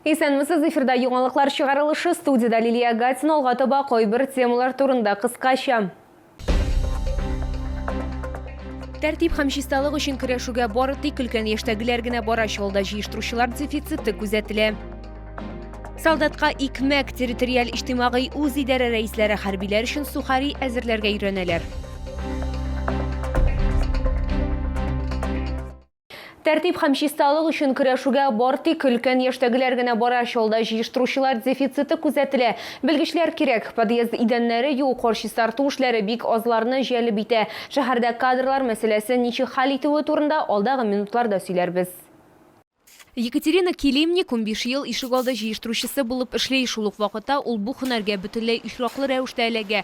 Исәнмесез, эфирда яңалыклар чыгарылышы, студиядә Лилия Гатина, алга таба кайбер темалар турында кыскача. Тәртип һәм чисталык өчен көрәшүгә бары тик өлкән яшьтәгеләр генә бара, чалда җыештыручылар дефициты күзәтелә. Солдатка икмәк, территориаль иҗтимагый үз идарә рәисләре хәрбиләр өчен сухари әзерләргә өйрәнәләр. Тәртип һәм чисталык өчен көрәшүгә бар тик өлкән яшьтәгеләр генә бара, чалда җыештыручылар дефициты күзәтелә. Белгечләр кирәк. Подъезд идәннәре юу, кар чистарту эшләре бик азларны җәлеп итә. Шәһәрдә кадрлар мәсьәләсен ничек хәл итүе турында алдагы минутларда сөйләрбез. Екатерина Килимни кунбиш ел ишегалды җыештыручысы булып эшли. Шул ук вакытта ул бу һөнәргә бөтенләй очраклы рәвештә эләгә.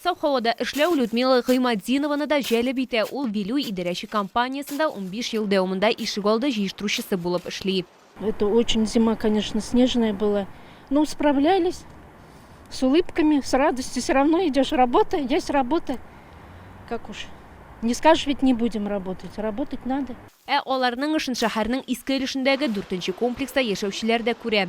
Саф һавада эшләү Людмила Гыйматдинованы да җәлеп итә, ул Вилюй идарәче компаниясендә унбиш ел дәвамында ишегалды җыештыручысы булып эшли. Это очень зима конечно снежная была ну справлялись с улыбками с радостью все равно идешь работа есть работа как уж не скажешь ведь не будем работать работать надо. Ә аларның эшен шәһәрнең иске өлешендәге дүртенче комплекста яшәүчеләр дә күрә.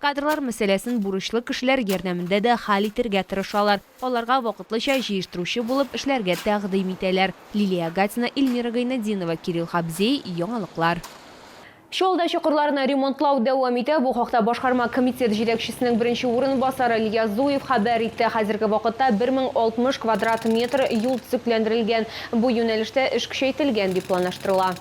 Кадрлар мәсьәләсен бурычлы кешеләр ярдәмендә дә хәл итәргә тырышалар. Аларга вакытлыча җыештыручы булып эшләргә тәкъдим итәләр. Лилия Агатина, Ильмира Гайнетдинова, Кирилл Хабзей, Яңалыклар. Чаллыда чокырларны ремонтлау дәвам итә. Бу хакта башкарма комитет җитәкчесенең беренче урынбасары Ильяс Зуев хәбәр итте. Хәзерге вакытта 1060 квадрат метр юл төзекләндерелгән. Бу юнәлештә эш көчәйтелгән дип планлаштырыла.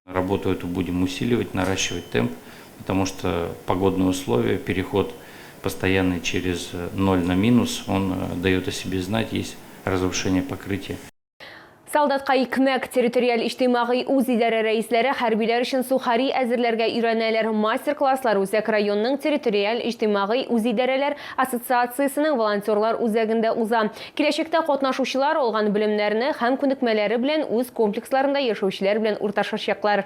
Работу эту будем усиливать, наращивать темп, Потому что погодные условия, переход постоянный через ноль на минус, он дает о себе знать, есть разрушение покрытия. Солдатка икмәк, территориаль иҗтимагый үзидарә рәисләре хәрбиләр өчен сухари әзерләргә өйрәнәләр. Мастер-класслар үзәк районның территориаль иҗтимагый үзидарәләр ассоциациясенең волонтерлар үзәгендә уза. Киләчәктә катнашучылар алган белемнәрне һәм күнекмәләре белән үз комплексларында яшәүчеләр белән урташачаклар.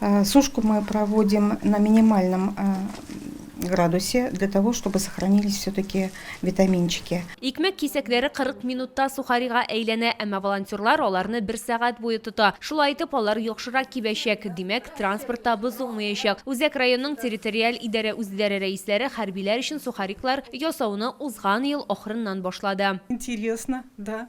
Э, сушку мы проводим на минимальном э, градусе для того, чтобы сохранились все-таки витаминчики. Икмәк кисәкләре 40 минутта сухарига әйләнә, әмма волонтерлар аларны бер сәгать буе тота. Шулай итеп, алар яхшырак кибәчәк, димәк, транспортта бозылмаячак. Үзәк районның территориаль идарә үзләре рәисләре хәрбиләр өчен сухариклар ясауны узган ел ахырыннан башлады. Интересно, да.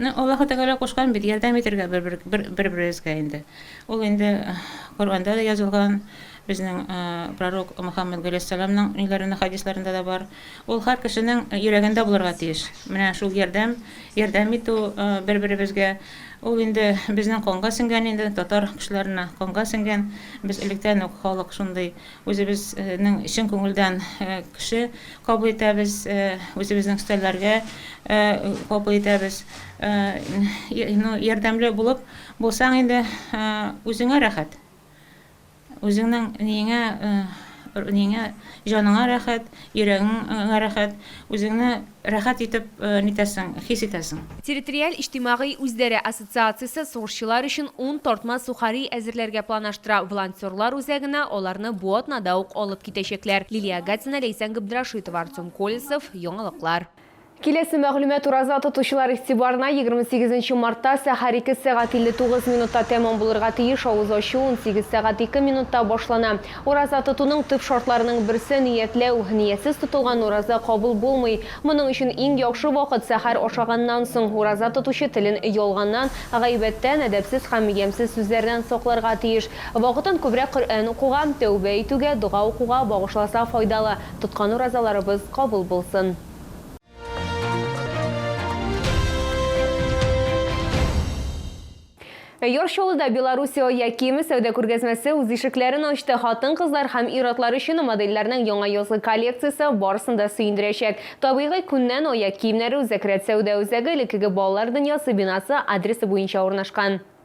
Ну, Аллаһы Тәгалә кушкан бит, ярдәм итергә бер-беребезгә инде. Ул инде Коръәндә дә язылган, безнең пророк Мөхәммәд галәйһиссәламның ниләрендә, хәдисләрендә дә бар. Ул һәр кешенең йөрәгендә булырга тиеш. Менә шул ярдәм, ярдәм итү бер-беребезгә. Ул инде безнең канга сеңгән инде, татар кешеләренә канга сеңгән. Без электән үк халык шундый Үзебезнең чын күңелдән кеше кабул итәбез, үзебезнең өстәлләргә кабул итәбез. Ну, ярдәмле булып булсаң инде, үзеңә рәхәт. Үзеңнең ниеңә, ниеңә, җаныңа рәхәт, Йөрәгеңә рәхәт, үзеңне рәхәт итеп нитәсең, хис итәсең. Территориаль иҗтимагый үзләре ассоциациясе сугышчылар өчен ун тартма сухари әзерләргә планаштыра, волонтерлар үзәгенә аларны бу атнада ук алып китәчәкләр. Лилия Агатина, Ләйсән Габдрашитова, Артем Колесов, Яңалыклар. Киләсе мәгълүмат ураза тотучылар игътибарына, егерме сигезенче мартта сәхәр ике сәгать илле тугыз минутта тәмам булырга тиеш авыз ачу унсигез сәгать ике минутта башлана. Ураза тотуның төп шартларының берсе, ниятләү. Ниятсез тотылган ураза кабул булмый. Моның өчен иң яхшы вакыт, сәхәр ашаганнан соң. Ураза тотучы телен ялганнан, гайбәттән, әдәпсез һәм ямьсез сүзләрдән сакларга тиеш. Вакытын күбрәк Коръән укуга, тәүбә итүгә, дога укуга багышласа файдалы. Тоткан уразаларыбыз кабул булсын! Яр Чаллыда Белоруссия ая киеме сәүдә күргәзмәсе үз ишекләрен ачты. Хатын-кызлар һәм ир-атлар өчен модельләрнең яңа язгы коллекциясе барысын да сөендерәчәк. Табигый күннән аяк киемнәре Үзәк рәт сәүдә үзәге элеккеге балалар дөньясы бинасы адресы буенча урнашкан.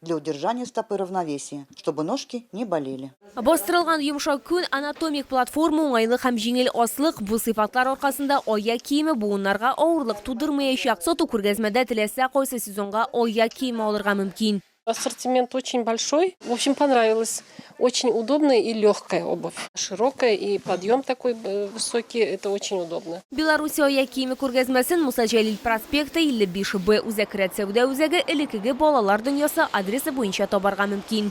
для удержания стопы равновесия, чтобы ножки не болели. Бастырылган йомшак күн, анатомик платформа, уңайлык һәм җиңел аслык, бу сыйфатлар аркасында аяк киеме буыннарга авырлык тудырмаячак. Сату күргәзмәдә теләсә кайсы сезонга аяк киеме алырга мөмкин. Ассортимент очень большой. В общем, понравилось. Очень удобная и легкая обувь. Широкая и подъем такой э, высокий, это очень удобно. Беларуси ая киеме күргәзмәсен Муса Җәлил проспекты 55 Б үзәк рәт сәүдә үзәге элекеге балалар дөньясы адресы буенча табарга мөмкин.